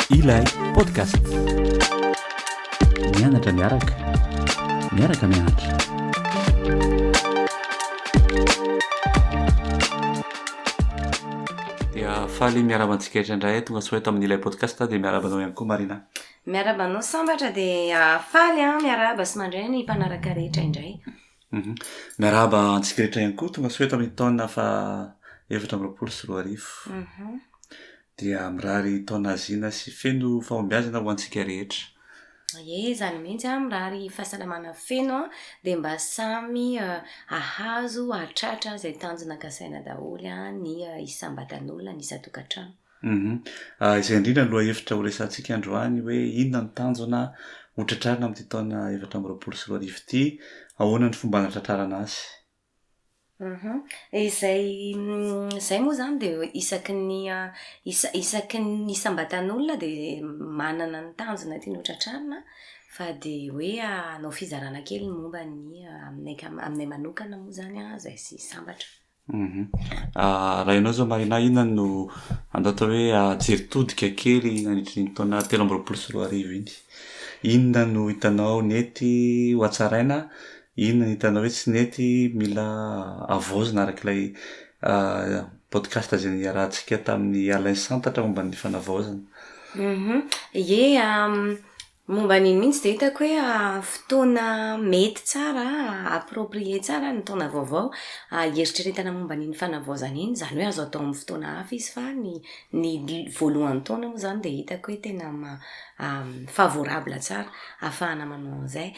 Ilay podcast. Mianatra miaraka. Miaraka mianatra. Dia faly miaraba antsika rehetra indray tonga soa eto amin'ny ilay podcast dia miaraba anao ihany koa Marina. Miarahaba anao sambatra dia faly an, miarahaba sy mandray ny mpanaraka rehetra indray. Miarahaba antsika rehetra ihany koa tonga soa eto amin'ny taona faha efatra amby roapolo sy roa arivo. Dia mirary taona hazina sy feno fahombiazana ho antsika rehetra. Ie, izany mihitsy an, mirary fahasalamana feno an, dia mba samy hahazo hahatratra izay tanjona kasaina daholo an ny isambatan'olona, ny isan-tokantrano. Humm. Izay indrindra no lohahevitra horesahantsika androany hoe inona no tanjona hotratrarina amin'ity taona efatra amby roapolo sy roa arivo ity? Ahoana ny fomba hanatratrarana azy? Humm. Izay izay moa izany dia isaky ny isaky ny isam-batan'olona dia manana ny tanjona tiany hotratrarina fa dia hoe hanao fizarana kely ny momba ny aminay aminay manokana moa izany izay sambatra. Raha ianao izao Marina, inona no andao atao hoe jery todika kely nandritry ny taona telo amby roapolo sy roa arivo iny? Inona no hitanao nety ho hatsaraina, inona no hitanao hoe tsy nety mila havaozina araka ilay podcast izay niarahantsika tamin'i Alain Santatra momba ny fanavaozana? Ie, Momba an'iny mihitsy dia hitako hoe fotoana mety tsara, approprié tsara ny taona vaovao hieritreretana momba an'iny fanavaozana iny. Izany hoe azo atao amin'ny fotoana hafa izy fa ny ny voalohan'ny taona moa izany dia hitako hoe tena maha favorable tsara ahafahana manao an'izay.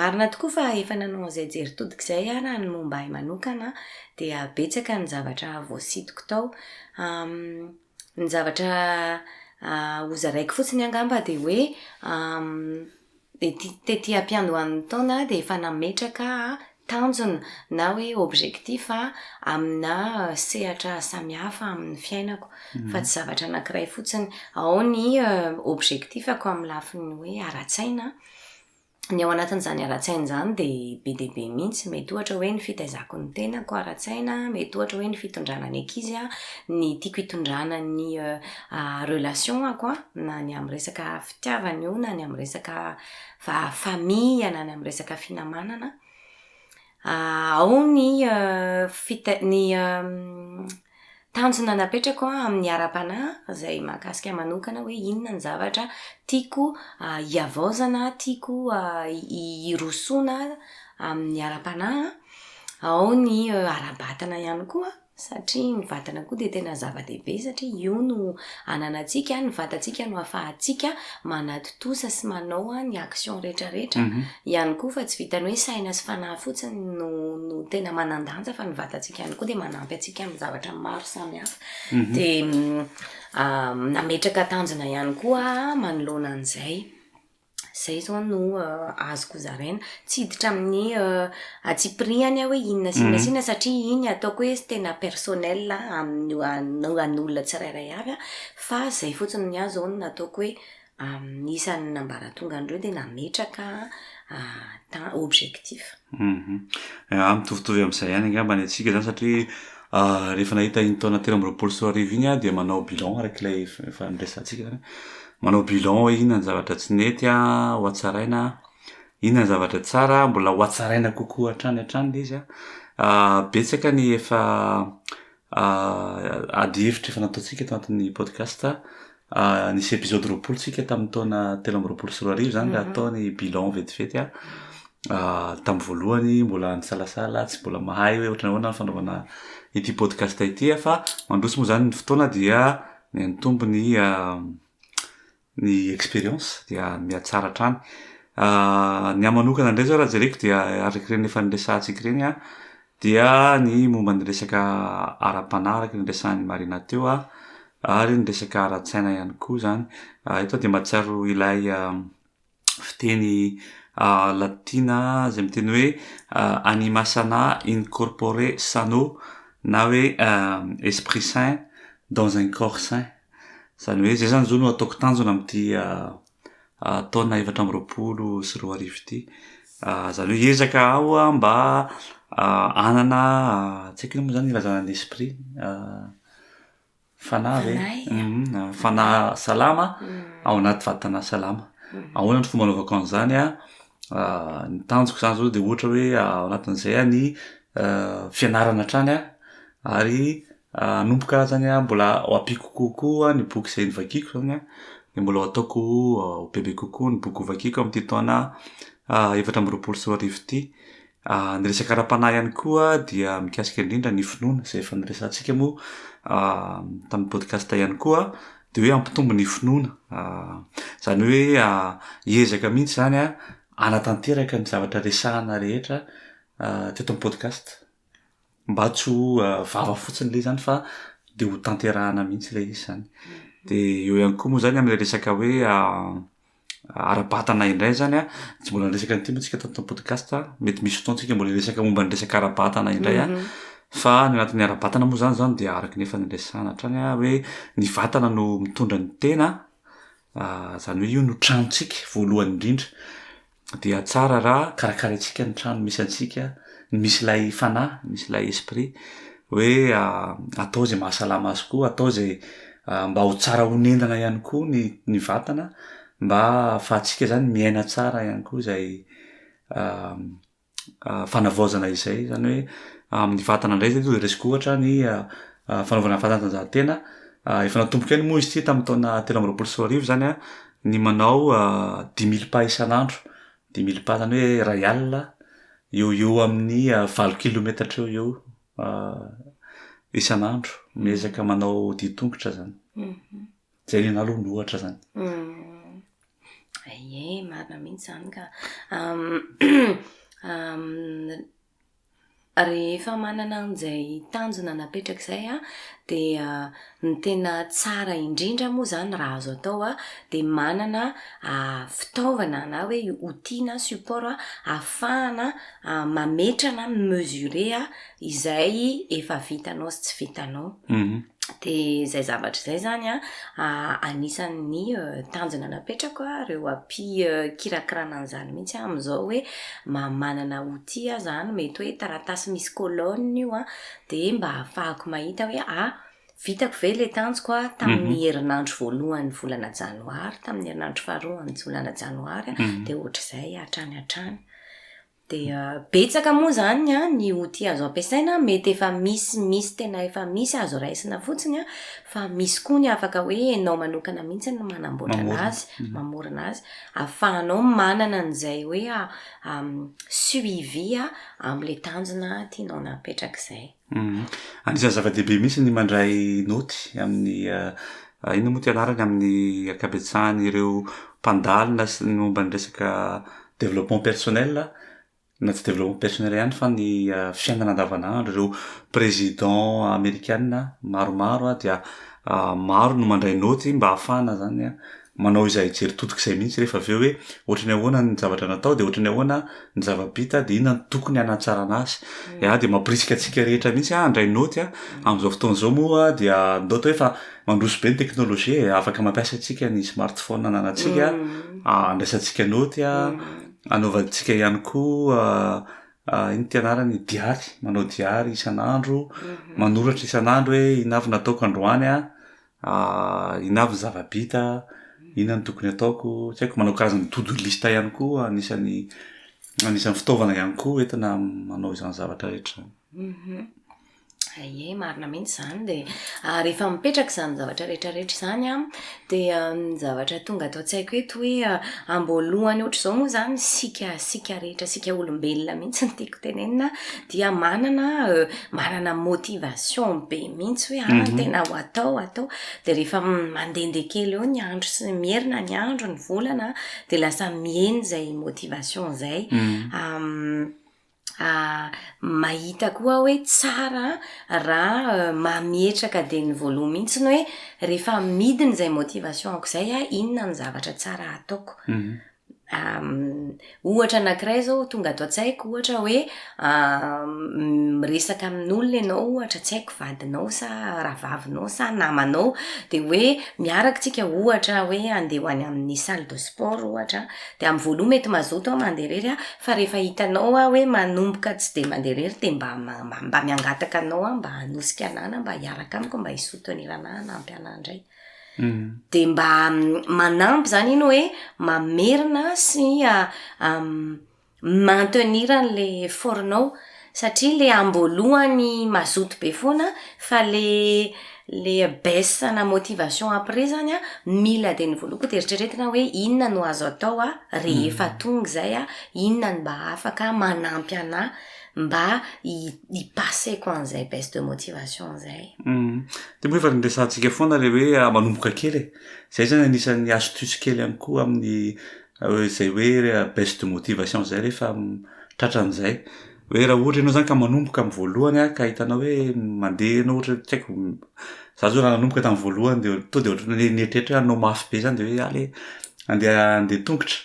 Marina tokoa fa efa nanao an'izay jery todika izay aho raha ny momba ahy manokana dia betsaka ny zavatra voasintoko tao. Ny zavatra hozaraiko fotsiny angamba dia hoe ety tety am-piandohan'ny taona aho dia efa nametraka tanjona na hoe objectif amina sehatra samihafa amin'ny fiainako fa tsy zavatra anankiray fotsiny. Ao ny objectif-ko amin'ny lafiny hoe ara-tsaina. ny ao anatin'izany haratsiaina izany dia be dia be mihitsy. Mety ohatra hoe ny fitaizako ny tenako haratsiaina, mety ohatra hoe ny fitondrana ny ankizy an, ny tiako hitondrana ny relation-ako na ny amin'ny resaka fitiavana io na ny amin'ny resaka famille na ny amin'ny resaka finamanana. Ao ny fita- ny Tanjona napetrako amin'ny ara-panahy izay mahakasika ahy manokana hoe inona ny zavatra tiako hihavaozana, tiako hirosoana amin'ny ara-panahy. Ao ny ara-batana ihany koa satria ny vatana koa dia tena zava-dehibe satria io no Ananantsika, ny vatantsika no ahafahantsika manatontosa sy manao ny action rehetra rehetra ihany koa fa tsy vitan'ny hoe saina sy fanahy fotsiny no no tena manan-danja fa ny vatantsika ihany koa dia manampy antsika amin'ny zavatra maro samihafa dia nametraka tanjona ihany koa manoloana an'izay. Izay izao no azoko zaraina. Tsy hiditra amin'ny antsipirihany aho hoe inona sy inona sy inona satria iny ataoko hoe tena personnel amin'ny an'olona tsirairay avy fa izay fotsiny ny ahy izao no nataoko hoe amin'ny isan'ny ambaratongan'ireo dia nametraka objectif. Humm mitovitovy amin'izay ihany angamba ny antsika izany satria rehefa nahita iny taona telo amby roapolo sy roa arivo iny aho dia manao bilan araka ilay efa niresahantsika izany, manao bilan hoe inona ny zavatra tsy nety an, ho hatsaraina an, inona ny zavatra tsara an, mbola ho hatsaraina kokoa hatrany hatrany ilay izy an, betsaka ny efa ah, ady hevitra efa nataontsika tao anatin'ny podcast ah, nisy episode roapolo tsika tamin'ny taona telo amby roapolo sy roa arivo zany raha mhm. atao ny bilan vetivety ah. ah, tamin'ny voalohany mbola nisalasala tsy mbola mahay hoe ohatrany ahoana ny fanaovana ity podcast ity ah, fa mandroso moa zany ny fotoana dia ny antombo ny ah, ny expérience dia mihatsara hatrany. Ny ahy manokana indray izao raha jereko dia araka ireny efa niresahantsika ireny an, dia ny momba ny resaka ara-panahy araka ny niresahan'i Marina teo an, ary ny resaka ara-tsaina ihany koa izany. Eto aho dia mahatsiaro ilay fiteny latina izay miteny hoe anima sana in corpore sano na hoe esprit saint dans un corps saint. Izany hoe izay izany izao no ataoko tanjona amin'ity taona efatra amby roapolo sy roa arivo ity. Izany hoe hiezaka aho mba hanana, tsy haiko inona moa izany ilazana ny esprit. Fanahy ve? Fanahy. Mhm, Fanahy salama ao anaty vatana salama. Ahoana ny fomba anaovako an'izany a? Ah, ny tanjoko izany izao dia ohatra hoe ah, ao anatin'izay ah, ny ah, fianarana hatrany ah, ary ah, hanomboka izany ah, mbola ho ampiako kokoa ny boky izay novakiako izany an, dia mbola ho ataoko ho bebe kokoa ny boky hovakiako amin'ity taona ah, efatra amby roapolo sy roa arivo ity. Ny resaka ara-panahy ihany koa dia mikasika indrindra ny finoana izay efa niresahantsika moa tamin'ny podcast ihany koa dia hoe hampitombo ny finoana izany hoe hiezaka mihitsy izany hanatanteraka ny zavatra resahina rehetra teto amin'ny podcast mba tsy ho vava fotsiny ilay izy izany fa dia hotanterahina mihitsy ilay izy izany dia eo ihany koa moa izany amin'ilay resaka hoe ara-batana indray zany a, tsy mbola niresaka an'ity moa tsika tato podcast a, mety misy fotoana tsika mbola hiresaka momba ny resaka ara-batana indray a, fa ny anatin'ny ara-batana moa zany zany dia araky ny efa niresahana hatrany a hoe ny vatana no mitondra ny tena zany hoe io no tranontsika voalohany indrindra, dia tsara raha karakaraintsika ny trano misy antsika, ny misy ilay fanahy, misy ilay esprit, hoe atao izay mahasalama azy koa, atao izay mba ho tsara honenana ihany koa ny ny vatana mba ahafahantsika zany miaina tsara ihany koa izay fanavaozana izay, zany hoe amin'ny vatana indray zay zao resiko ohatra ny fanaovana fanatanjahantena, efa natomboka ihany moa izy ity tamin'ny taona telo amby roapolo sy roa arivo zany an, ny manao dimy mille pas isan'andro Dimy mily pas zany hoe iray alina, eo ho eo amin'ny valo kilometatra eo ho eo isan'andro. Miezaka manao dian-tongotra zany. Zay ny anah aloha ny ohatra zany. Ye, marina mihitsy zany ka. Rehefa manana an'izay tanjona napetraka izay an, dia ny tena tsara indrindra moa izany raha azo atao an, dia manana fitaovana na hoe outil na support ahafahana mametra na mi-mesurer izay efa vitanao sy tsy vitanao. dia izay zavatra izay izany an, anisan'ny tanjona napetrako an, ireo hampikirakirana an'izany mihitsy an, amin'izao hoe mba manana outil aho izany, mety hoe taratasy misy colonne io an, dia mba hahafahako mahita hoe a, vitako ve ilay tanjoko an, tamin'ny herinandro voalohan'ny volana janoary, tamin'ny herinandro faharoa amin'ny volana janoary an, dia ohatr'izay hatrany hatrany. Dia betsaka moa izany ny outil azo ampiasaina, mety efa misy misy tena efa misy azo raisina fotsiny an, fa misy koa ny afaka hoe enao manokana mihitsy no manamboatra an'azy, mamorona azy, afahanao manana an'izay hoe suivi amin'ilay tanjona tianao napetraka izay. Anisan'ny zava-dehibe mihitsy ny mandray naoty amin'ny inona moa ity anarany amin'ny ankabetsahan'ireo mpandalina sy ny momba ny resaka développement personnel na tsy développement personnel ihany fa ny fiainana andavanandro, ireo président amerikana maromaro dia maro no mandray naoty mba hahafahana zany manao izay hijery totoka izay mihitsy rehefa avy eo hoe ohatran'ny ahoana ny zavatra natao dia ohatran'ny ahoana ny zava-bita dia inona ny tokony hanatsarana azy mm. ya dia mampirisika antsika rehetra mihitsy ah handray noty ah amin'izao fotoana izao moa dia ndao to efa mandroso be ny teknolojia eh, afaka mampiasa antsika ny smartphone ananantsika mm. ah, andraisantsika noty a ah, mm. anaovantsika ihany koa ah, iny tianarany diary manao diary isan'andro mm-hmm. manoratra isan'andro hoe inavy nataoko androany a Inona avy ny zava-bita, inona no tokony ataoko, tsy haiko, manao karazana to do list ihany koa anisan'ny anisan'ny fitaovana ihany koa entina manao izany zavatra rehetra izany. Ie, marina mihitsy izany dia rehefa mipetraka izany zavatra rehetra rehetra izany an, dia ny zavatra tonga ato an-tsaiko eto hoe amboalohany ohatr'izao moa izany isika isika rehetra isika olombelona mihitsy no tiako tenenina, dia manana manana motivation be mihitsy hoe ah tena ho atao ho atao de rehefa mandehandeha kely eo ny andro sy ny herinna ny andro ny volana de lasa mihena izay motivation izay mahita koa hoe tsara raha mametraka dia ny voaloha mihitsy ny hoe rehefa midina izay motivation ko izay ah inona ny zavatra tsara ataoko Ohatra anankiray izao tonga ato an-tsaiko ohatra hoe miresaka amin'olona ianao ohatra tsy haiko vadinao sa rahavavinao sa namanao dia hoe miaraka isika ohatra hoe handeha ho any amin'ny salle de sport ohatra dia amin'ny voaloha mety mazoto aho mandeha irery an, fa rehefa hitanao aho hoe manomboka tsy dia mandeha irery dia mba mba miangataka anao aho mba hanosika anah na mba hiaraka amiko mba hisotoniana anah hanampy anah indray. dia mba manampy izany iny hoe mamerina sy maintenir an'ilay effort-nao satria ilay amboalohany mazoto be foana fa ilay ilay baisse ana motivation après izany an, mila dia ny voaloha koa dia eritreretina hoe inona no azo atao an, rehefa tonga izay an, inona no mba afaka manampy anà Mba hi-passer-ko an'izay baisse de motivation izay. Dia moa efa niresahantsika foana ilay hoe manomboka kely e. Izay izany anisan'ny astuce kely ihany koa amin'ny izay hoe baisse de motivation izay rehefa tratran'izay. Hoe raha ohatra ianao izany ka manomboka amin'ny voalohany ka hitanao hoe mandeha ianao ohatra tsy haiko, izaho izao raha nanomboka tamin'ny voalohany dia tonga dia ohatran'ny hoe nieritreritra hoe hanao mafy be izany dia hoe aleo handeha handeha an-tongotra.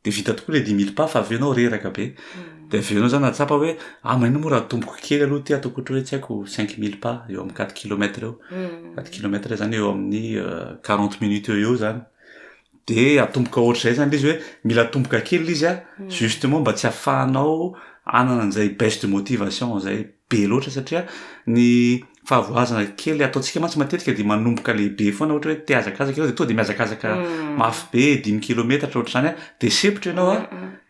Dia vita tokoa ilay dimy mille pas fa avy eo ianao reraka be. Dia avy eo ianao izany nahatsapa hoe ah maninona moa raha atomboko kely aloha ity ataoko ohatra hoe tsy haiko cinq mille pas eo amin'ny quatre kilomètre eo. Quatre kilomètre izany eo amin'ny quarante minutes eo ho eo izany. Dia atomboka ohatr'izay izany ilay izy hoe mila atomboka kely ilay izy an, justement mba tsy ahafahanao hanana an'izay baisse de motivation izay. be loatra satria ny fahavoazana kely ataontsika mantsy matetika dia manomboka lehibe foana ohatra hoe te hazakazaka ianao dia tonga dia mihazakazaka mafy be dimy kilometatra ohatra izany a dia sempotra ianao a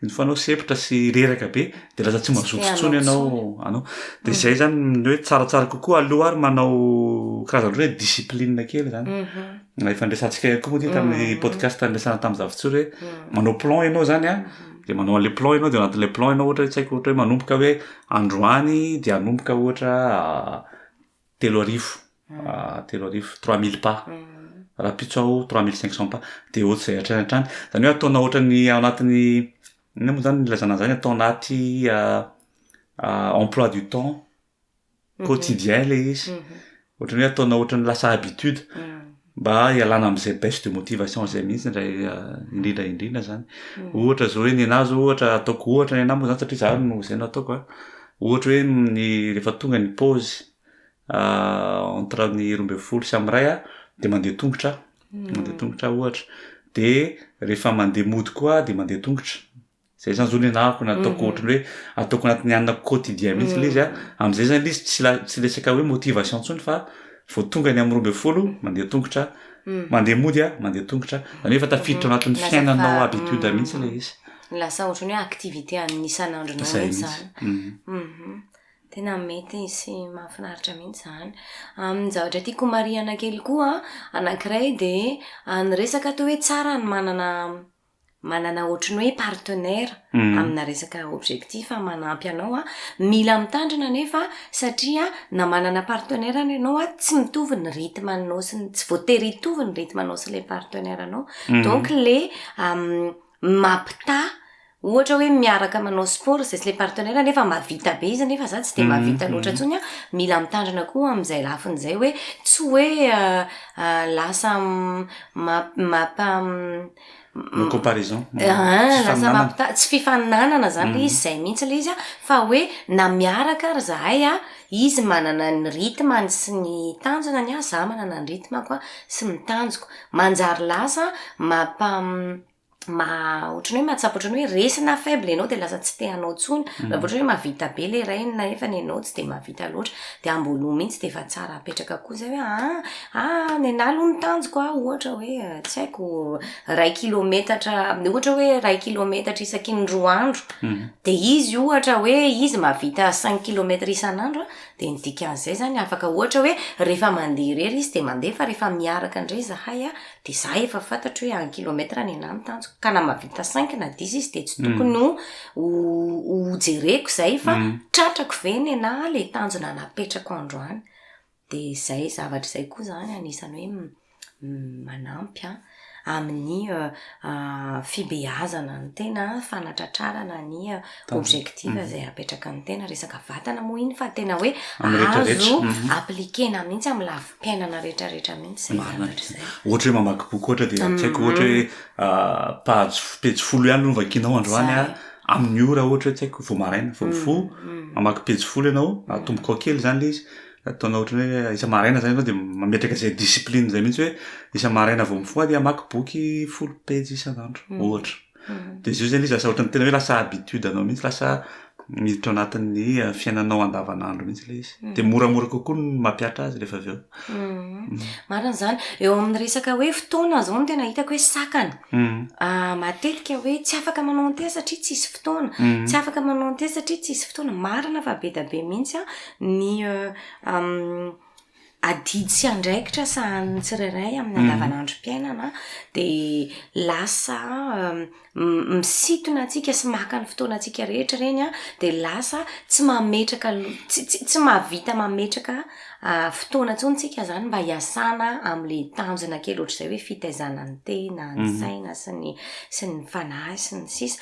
ny fanao sempotra sy reraka be dia lasa tsy mazoto intsony ianao anao dia izay izany ny hoe tsaratsara kokoa aloha ary manao karazana ohatra hoe discipline kely izany na efa niresahantsika ihany koa moa ity tamin'ny podcast niresahana tamin'i Zafy Tsory hoe manao plan ianao izany a dia manao an'ilay plan ianao dia ao anatin'ilay plan ianao ohatra hoe tsy haiko ohatra hoe manomboka hoe androany dia hanomboka ohatra telo arivo telo arivo trois mille pas rahampitso aho trois mille cinq cents pas dia ohatr'izay hatrany hatrany izany hoe ataonao ohatran'ny ao anatin'ny inona moa izany no ilazana an'izany atao anaty emploi du temps quotidien le izy ohatran'ny hoe ataonao ohatran'ny lasa habitude mba hialana amin'izay baisse de motivation izay mihitsy indray indrindra indrindra zany ohatra zao hoe nenahy zao ohatra ataoko ohatra nenahy moa zany satria za no izay no ataoko a ohatra hoe ny rehefa tonga ny pause entre ny roa ambin'ny folo sy amin'ny iray aho dia mandeha tongotra aho mandeha tongotra aho ohatra dia rehefa mandeha mody koa aho dia mandeha tongotra Zay zany zao le anahako na ataoko ohatra hoe ataoko anatin'ny anina quotidien mihitsy le izy a am'zay zany le izy tsy la- tsy resaka hoe motivation ntsony fa vao tonga ny am' roa amby folo mandeha tongotra mandeha mody a mandeha tongotra zany hoe efa tafiditra ao anatin'ny Lasa fiainanao fa- habitude mihitsy le izy Lasa ohatran'ny hoe activité an'ny isan'andronao zay mihitsy mihitsy zany. Hum. Tena mety sy mahafinaritra mihitsy zany. Amin'ny zavatra tiako homarihana kely koa anankiray de ny resaka toa hoe tsara ny manana manana ohatry ny hoe partenaire mm. amina resaka objectif a manampy anao a mila mitandrina nefa satria na manana partenaire any ianao a tsy mitovy ny rythme anao sy ny tsy voatery hitovy ny rythme anao sy le partenaire anao mm. donc le um, mapita ohatra hoe miaraka manao sport zay sy le partenaire nefa mavita be izy nefa za tsy de mavita mm-hmm. loatra mm-hmm. ntsony a mila mitandrina koa am'izay lafiny zay hoe tsy hoe uh, uh, lasa map mapa comparaison tsy fifaninanana zany le izy izay mihitsy le izy a fa hoe na miaraka ary zahay a izy manana ny rythme-ny sy ny tanjona ny ahy za manana ny rythme-ko a sy ny tanjoko manjary lasa mampa- ma- ohatry ny hoe mahatsapa ohatry ny hoe resy na faible ianao de lasa tsy te hanao intsony raha vao ohatra hoe mahavita be le rainy nefany ianao tsy de mahavita loatra de amboaloha mihitsy de efa tsara apetraka koa zay hoe aa Ah, nenah aloha ny tanjoko an, ohatra hoe tsy haiko iray kilometatra, ohatra hoe iray kilometatra isaky ny roa andro, dia izy ohatra hoe izy mahavita cinq kilometatra isan'andro an, dia ny dikan'izay izany afaka ohatra hoe rehefa mandeha irery izy dia mandeha fa rehefa miaraka indray izahay an, dia izaho efa fantatro hoe un kilometre nenah no tanjoko, ka na mahavita cinq na dix izy dia tsy tokony ho ho jereko izay fa tratrako ve nenah ilay tanjona napetrako androany. Dia izay zavatra izay koa izany anisan'ny hoe manampy an, amin'ny fibeazana ny tena, fanatratrarana ny objectif izay apetraka ny tena, resaka vatana moa iny fa tena hoe azo appliquer-na mihitsy amin'ny lafim-piainana rehetrarehetra mihitsy izay zavatra izay. Ohatra hoe mamaky boky ohatra dia tsy haiko ohatra hoe page pejy folo ihany no hovakianao androany an, amin'ny ora ohatra hoe tsy haiko vao maraina vao mifoha, mamaky pejy folo ianao, atomboka ao kely izany ilay izy. Ataonao ohatran'ny hoe isa-maraina izany ianao dia mametraka izay discipline izay mihitsy hoe isa-maraina vao mifoha dia hamaky boky folo pejy isan'andro, hmm. ohatra. Hmm. Dia izay izay ilay izy lasa ohatran'ny tena hoe lasa habitude anao mihitsy, lasa miditra anatin'ny eh, fiainanao andavanandro mihitsy ilay izy. Hmm. Dia moramora kokoa ny mampiatra azy rehefa avy eo. Marina izany. Eo amin'ny resaka hoe fotoana izao no tena hitako hoe sakana. Ah, matetika hoe tsy afaka manao an'ity satria tsisy fotoana. Tsy afaka manao an'ity satria tsisy fotoana. Marina fa be dia be mihitsy an. Ah. ny adidy sy andraikitra sahanin'ny tsirairay amin'ny andavanandrom-piainana dia lasa misintona antsika sy maka ny fotoanantsika rehetra ireny an, dia lasa tsy mametraka tsy mahavita mametraka fotoana intsony isika izany mba hiasana amin'ilay tanjona kely ohatr'izay hoe fitaizana ny tena, ny saina sy ny sy ny fanahy sy ny sisa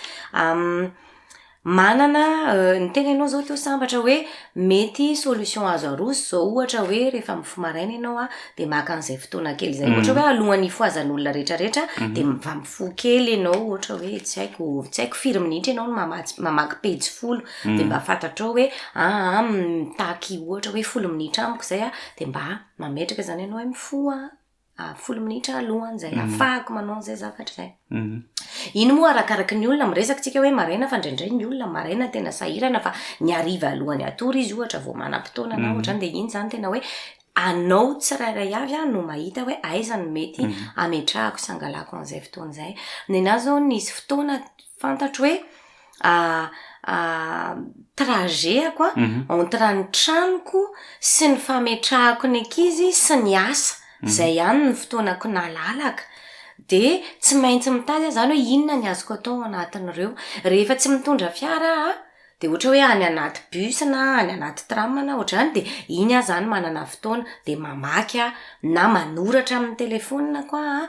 Manana ny tena ianao izao teo sambatra hoe mety solution azo aroso izao ohatra hoe rehefa mifoha maraina ianao a dia maka an'izay fotoana kely izay ohatra hoe alohan'ny hifohazan'olona rehetra rehetra dia mba mifoha kely ianao ohatra hoe tsy haiko tsy haiko firy minitra ianao no mamatsy mamaky pejy folo dia mba fantatrao hoe aa mitaky ohatra hoe folo minitra amiko izay a dia mba mametraka izany ianao hoe mifoha ah, folo minitra alohan' zay mhm. afahako manao an'izay zavatra zay mhm. iny moa arakaraky ny olona miresaka tsika hoe maraina fa ndraindray ny olona maraina tena sahirana fa ny ariva alohan'ny atory izy ohatra vao manam-potoana na mhm. ohatrany dia iny zany tena hoe anao tsirairay avy aho no mahita hoe aizany mety ametrahako sangalako an'izay fotoana izay ny anazy zao nisy fotoana fantatro hoe trajet-ako entre ny tranoko sy ny fametrahako ny ankizy sy ny asa, izay ihany ny fotoanako nalalaka, dia tsy maintsy mitady aho izany hoe inona no azoko atao ao anatin'ireo, rehefa tsy mitondra fiara aho dia ohatra hoe any anaty bus na any anaty tram na ohatr'izany dia iny aho izany manana fotoana dia mamaky aho na manoratra amin'ny telefonina ko aho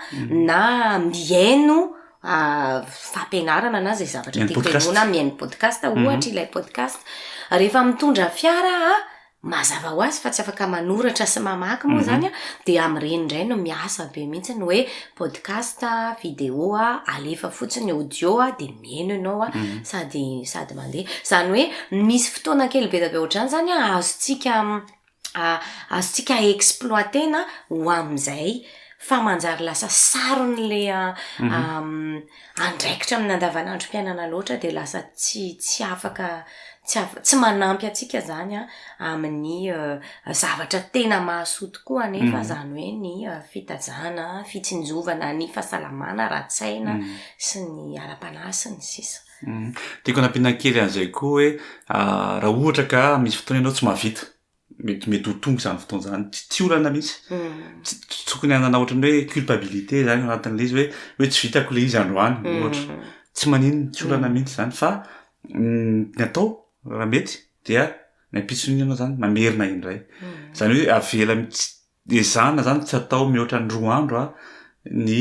na mihaino fampianarana na izay zavatra tiako henoina aho mihaino podcast aho mhm. ohatra ilay podcast rehefa mitondra fiara aho mazava ho azy fa tsy afaka manoratra sy mamaky moa mhm. zany a dia amin'ireny indray no miasa be mihitsy ny hoe podcast video a alefa fotsiny audio a dia mihaino ianao a mhm. sady sady mandeha izany hoe misy fotoana kely be da be ohatr'izany zany a azontsika azontsika exploiter-na ho amin'izay fa manjary lasa sarony ilay andraikitra amin'ny andavanandrom-piainana loatra dia lasa tsy tsy afaka tsy afaka tsy manampy antsika izany an amin'ny zavatra tena mahasoa tokoa anefa izany hoe ny fitazana, fitsinjovana ny fahasalamana ara-tsaina sy ny ara-panahy sy ny sisa. Tiako hanampiana kely an'izay koa hoe raha ohatra ka misy fotoana ianao tsy mahavita, mety mety ho tonga izany fotoana izany, tsy olana mihitsy, tsy tokony hanana ohatran'ny hoe culpabilité izany ao anatin'ilay izy hoe hoe tsy vitako ilay izy androany ohatra, tsy maninona, tsy olana mihitsy izany fa ny atao raha mety dia ny ampitson'iny ianao izany mamerina indray, izany hoe avela mihitsy. Ezahana izany tsy atao mihoatra ny roa andro a, ny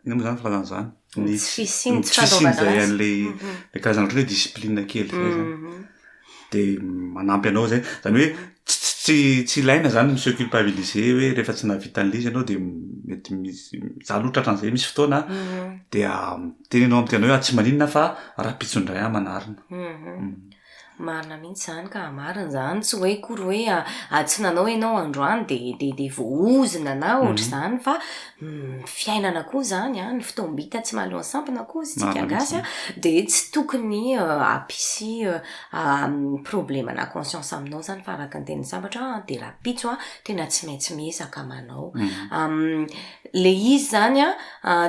inona moa izany ny filazana izany? Ny tsy fisian, ny tsy fisian izay an'ilay ilay karazana ohatran'ny hoe discipline kely izay izany. Dia manampy anao izay. Izany hoe tsy tsy tsy tsy ilaina izany mi-se culpabiliser hoe rehefa tsy nahavita an'ilay izy ianao dia mety misy, izaho aloha tratra an'izay misy fotoana dia miteny ianao amin'ny tenanao hoe atsy maninona fa rahampitso indray aho manarina. Marina mihitsy izany ka, marina izany, tsy hoe akory hoe ady tsy nanao ianao androany dia dia dia voaozona na ohatr'izany fa fiainana koa izany an, ny fotoam-bita tsy mahaloan'ny sampona koa hoy isika gasy an, dia tsy tokony hampisy problema na conscience aminao izany fa araka ny tenin'ny sambatra an, dia rahampitso an, tena tsy maintsy miezaka manao. Ilay izy izany an,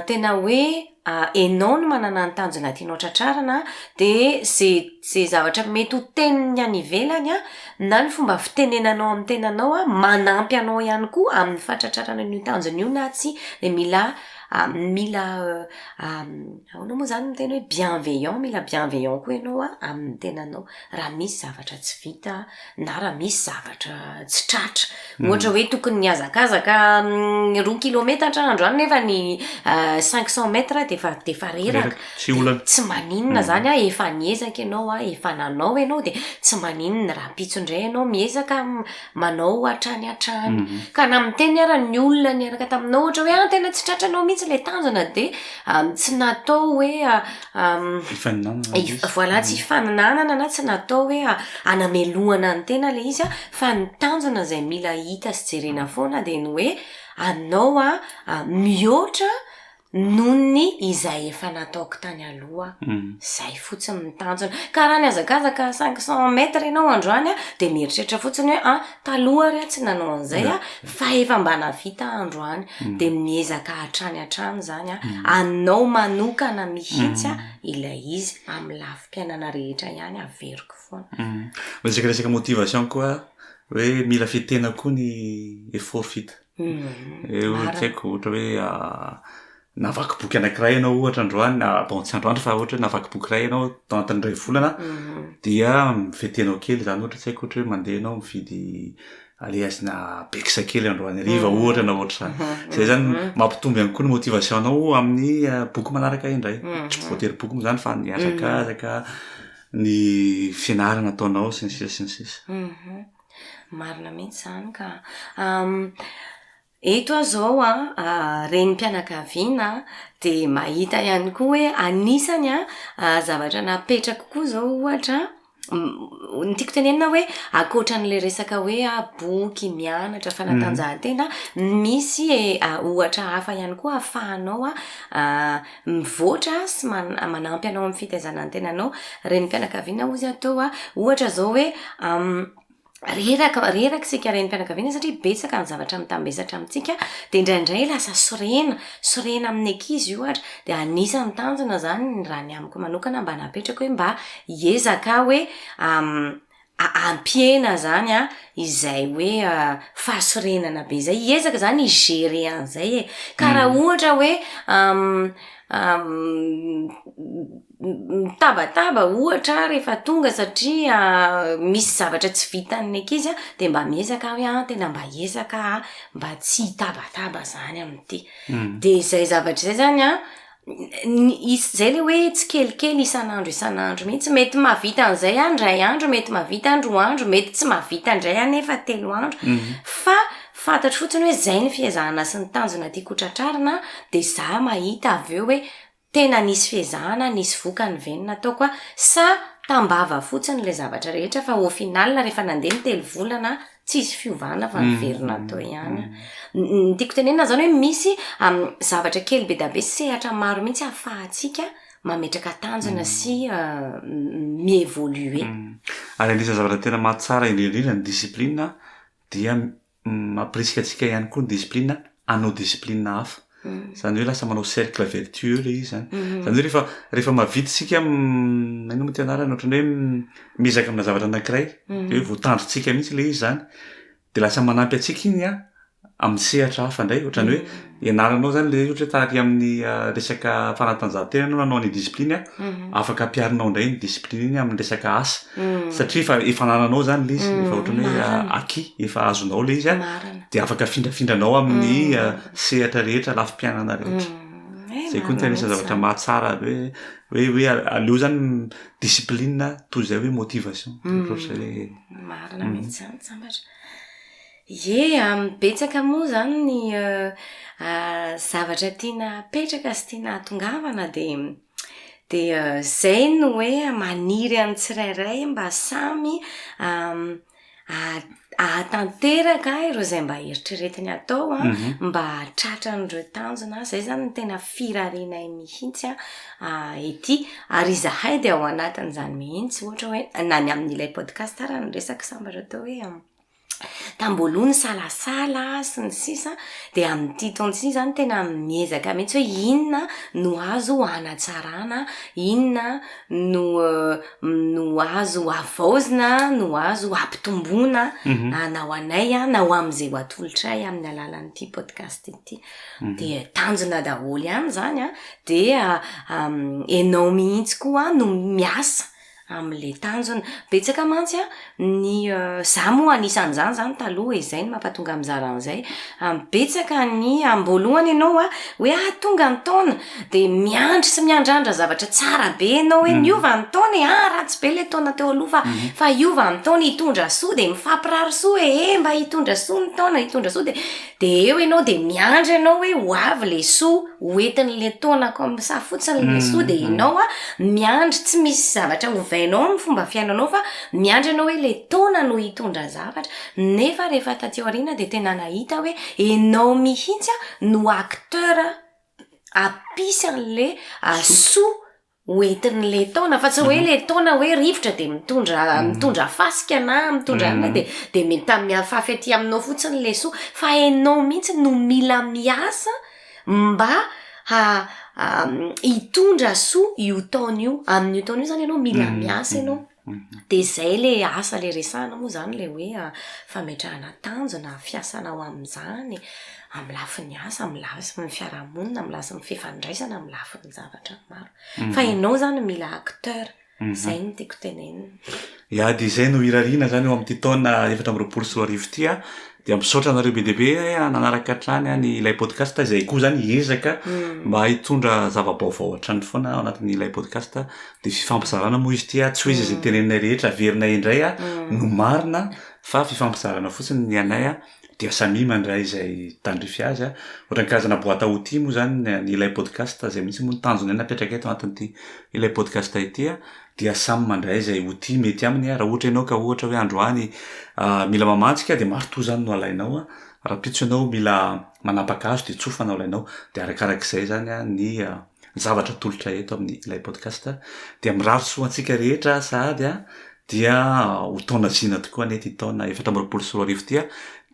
tena hoe. enao no manana ny tanjona tianao tratrarina dia ze ze zavatra mety ho tenin'ny any ivelany a na ny fomba fitenenanao amin'ny tenanao a manampy anao ihany koa amin'ny fahatratrarana an'io tanjona io na tsia dia mila mila ahoana moa zany ny teny hoe bienveillant mila bienveillant koa ianao a amin'ny tenanao raha misy zavatra tsy vita na raha misy zavatra tsy tratra hmm. ohatra hoe tokony nihazakazaka hmm, roa kilometatra andro any nefa ny euh, cinq cent mètres defa defa reraka tsy olana tsy maninona hmm. zany a efa niezaka ianao a efa nanao ianao de tsy maninona raha pitso indray ianao miezaka manao hatrany hatrany ka na miteny ara ny olona niaraka taminao ohatra hoe an ah, tena tsy tratranao mihitsy le tanjona de ah, tsy natao hoe ah, Voilà tsy hifaninanana na tsy natao hoe hanamelohana ny tena ilay izy fa ny tanjona izay mila hita sy jerena foana dia ny hoe anao mihoatra noho ny izay efa nataoko tany aloha izay fotsiny ny tanjona ka raha nihazakazaka cinq cent mètres ianao androany dia mieritreritra fotsiny hoe Taloha ary aho tsy nanao an'izay a, fa efa mba navita aho androany, mm. dia miezaka hatrany hatrany izany a, mm. anao manokana mihitsy a mm. ilay izy amin'ny lafim-piainana rehetra ihany averiko foana. Resaka resaka motivation koa hoe mila fitena koa ny effort vita. Eo tsy haiko ohatra hoe ah, Navaky boky anankiray ianao ohatra androany na bon tsy androany fa ohatra hoe navaky boky iray ianao tao anatin'ny iray volana dia mivety anao kely izany ohatra tsy haiko ohatra hoe mandeha ianao mividy alehasina bekisa kely androany hariva ohatra na ohatra izany. Izay izany mampitombo ihany koa ny motivation-nao amin'ny ah, boky manaraka indray. Tsy voatery boky moa izany fa ny hazakazaka, ny fianarana ataonao sy ny sisa sy ny sisa. Marina mihitsy izany ka. Eto aho izao an, renim-pianakaviana dia mahita ihany koa hoe anisany an zavatra napetrako koa izao ohatra an, ny tiako tenenina hoe ankoatra an'ilay resaka hoe boky, mianatra, fanatanjahantena, misy ohatra hafa ihany koa ahafahanao mivoatra sy manampy anao amin'ny fitaizana ny tenanao. Renim-pianakaviana hozy aho teo an, ohatra izao hoe reraka reraka isika renim-pianakaviana satria betsaka ny zavatra mitambesatra amintsika dia indraindray lasa sorena sorena amin'ny ankizy ohatra dia anisan'ny tanjona izany ny raha ny amiko manokana mba napetrako hoe mba hiezaka hoe ampihena izany a izay hoe fahasorenana be izay hiezaka izany higere an'izay e ka raha ohatra hoe mitabataba ohatra aho rehefa tonga satria misy zavatra tsy vitan'ny ankizy an, dia mba miezaka aho hoe tena mba hiezaka aho an, mba tsy hitabataba zany amin'ity, dia izay zavatra izay zany an, izay ilay hoe tsikelikely isan'andro isan'andro mihintsy, mety mahavita an'izay aho indray andro, mety mahavita aho indroa andro, mety tsy mahavita indray aho nefa telo andro, fa fantatro fotsiny hoe izay no fiezahana sy ny tanjona tiako ho tratrarina, dia za mahita avy eo hoe Tena nisy fiezahana, nisy vokany ve ny nataoko a? Sa tambava fotsiny ilay zavatra rehetra fa au final rehefa nandeha ny telo volana tsisy fiovana fa niverina teo ihany. Ny tiako tenenina izany hoe misy zavatra kely be dia be, sehatra maro mihitsy ahafahantsika mametraka tanjona sy mi-evoluer. Ary anisan'ny zavatra tena mahatsara indrindra indrindra ny discipline dia mampirisika antsika ihany koa ny discipline hanao discipline hafa izany hoe lasa manao cercle vertueux ilay izy izany izany hoe rehefa rehefa mahavita isika inona moa ity anarany ohatran'ny hoe miezaka amina zavatra anankiray dia hoe voatandrintsika mihitsy ilay izy izany dia lasa manampy antsika iny amin'ny sehatra hafa indray ohatran'ny hoe ianaranao izany ilay izy ohatra hoe taty amin'ny resaka fanatanjahantena ianao nanao ny discipline afaka ampiharinao indray ny discipline iny amin'ny resaka asa satria efa efa anananao izany ilay izy efa ohatran'ny hoe acquis efa azonao ilay izy dia afaka afindrafindranao amin'ny sehatra rehetra lafim-piainana rehetra izay koa no tena isan'ny zavatra mahatsara hoe hoe hoe aleo izany discipline toy izay hoe motivation ohatr'izay hoe marina mihitsy izany sambatra Ie, amin'ny betsaka moa izany ny zavatra tiana apetraka sy tiana ahatongavana dia dia izay no hoe maniry an'ny tsirairay mba samy hahatanteraka ireo izay mba eritreretiny atao an, mba hahatratra an'ireo tanjona. Izay izany no tena firarenay mihitsy an ety. Ary izahay dia ao anatin'izany mihitsy, ohatra hoe na ny amin'ilay podcast ary no resaka sambatra teo hoe. tamboaloha nisalasala sy ny sisa dia amin'ity taona ity zany tena miezaka mihitsy hoe inona no azo hanatsarana inona no no azo havaozina no azo hampitomboana mhm. na ho anay na ho amin'izay ho atolotray amin'ny alalan'ity podcast ity mhm. dia tanjona daholo ihany zany a dia enao mihitsy koa no miasa Amin'ilay tanjona. Betsaka mantsy ny, izaho moa anisan'izany izany taloha e, izay no mampatonga ahy mizara an'izay, betsaka ny amim-boalohany ianao hoe ah tonga ny taona, dia miandry sy miandrandra zavatra tsara be ianao hoe niova ny taona e, ah ratsy be ilay taona teo aloha fa hiova ny taona hitondra soa, dia mifampirary soa e, eh mba hitondra soa ny taona, hitondra soa dia. De eo ianao de miandry ianao hoe ho avy le soa, ho entin'le taona comme ça fotsiny le soa de ianao a miandry tsy misy zavatra ovainao am fomba fiainanao fa miandry ianao hoe le taona no hitondra zavatra, nefa rehefa taty aoriana de tena nahita hoe ianao mihitsy a no acteur apisy an'le soa ho entin'ilay taona fa tsy hoe ilay taona hoe rivotra dia mitondra mm. mitondra fasika na mitondra mm. an'ilay dia dia mitamihafafy aty aminao fotsiny ilay soa fa ianao mihitsy no mila miasa mba ha hitondra soa io taona io amin'io taona io zany ianao mila mm. miasa ianao Dia izay ilay asa ilay resahana moa izany ilay hoe fametrahana tanjona, fiasana ho amin'izany, amin'ny lafiny asa, amin'ny lafiny fiarahamonina, amin'ny lafiny fifandraisana, amin'ny lafiny zavatra maro. Fa ianao izany mila acteur. Izay no tiako tenenina. Dia izay no irariana izany eo amin'ity taona efatra amby roapolo sy roa arivo ity an! Dia misaotra anareo be dia be an, nanaraka hatrany an ilay podcast, izay koa izany hiezaka mba hitondra zava-baovao hatrany foana ao anatin' ilay podcast, dia fifampizarana moa izy ity an, tsy hoe izay izay teneninay rehetra averinay indray an no marina an, fa fifampizarana fotsiny ny anay an, dia samia mandray izay tandrify azy an, ohatran'ny karazana boite à outils moa izany ilay podcast, izay mihitsy moa no tanjonay napetraka eto ao anatin'ity ilay podcast ity an. dia samy mandray izay ho tia mety aminy raha ohatra ianao ka ohatra hoe androany mila mamantsika dia marto izany no alainao rahampitso ianao mila manapaka hazo dia tsofa no alainao dia arakarak'izay izany ny zavatra atolotra eto amin'ny ilay podcast dia mirary soa antsika rehetra sahady dia ho taona zina tokoa anie ity taona efatra amby roapolo sy roa arivo ity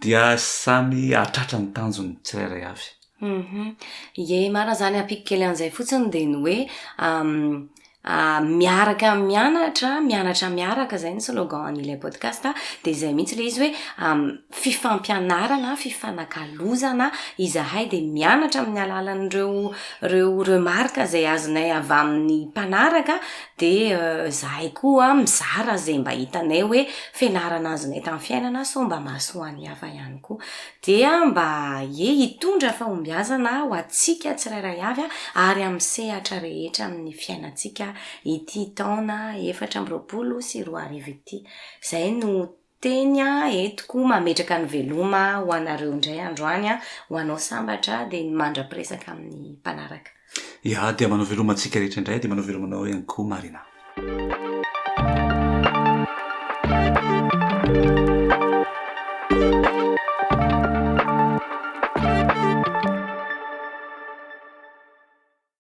dia samy hahatratra ny tanjony tsirairay avy Humm ie marina zany ampiako kely an'izay fotsiny dia ny hoe miaraka mianatra mianatra miaraka izay no slogan an'ilay podcast a, dia izay mihitsy ilay izy hoe fifampianarana fifanakalozana izahay dia mianatra amin'ny alalan'ireo ireo remarque izay azonay avy amin'ny mpanaraka dia izahay koa mizara izay mba hitanay hoe fianarana azonay tamin'ny fiainana sao mba mahasoa ny hafa ihany koa. Dia mba aie hitondra fahombiazana ho antsika tsirairay avy ary amin'ny sehatra rehetra amin'ny fiainantsika ity taona efatra amby roapolo sy roa arivo ity. Izay no teny entiko mametraka ny veloma ho anareo indray androany, ho anao sambatra dia ny mandra-piresaka amin'ny mpanaraka. Iah dia manao veloma antsika rehetra indray dia manao veloma anao ihany koa Marina.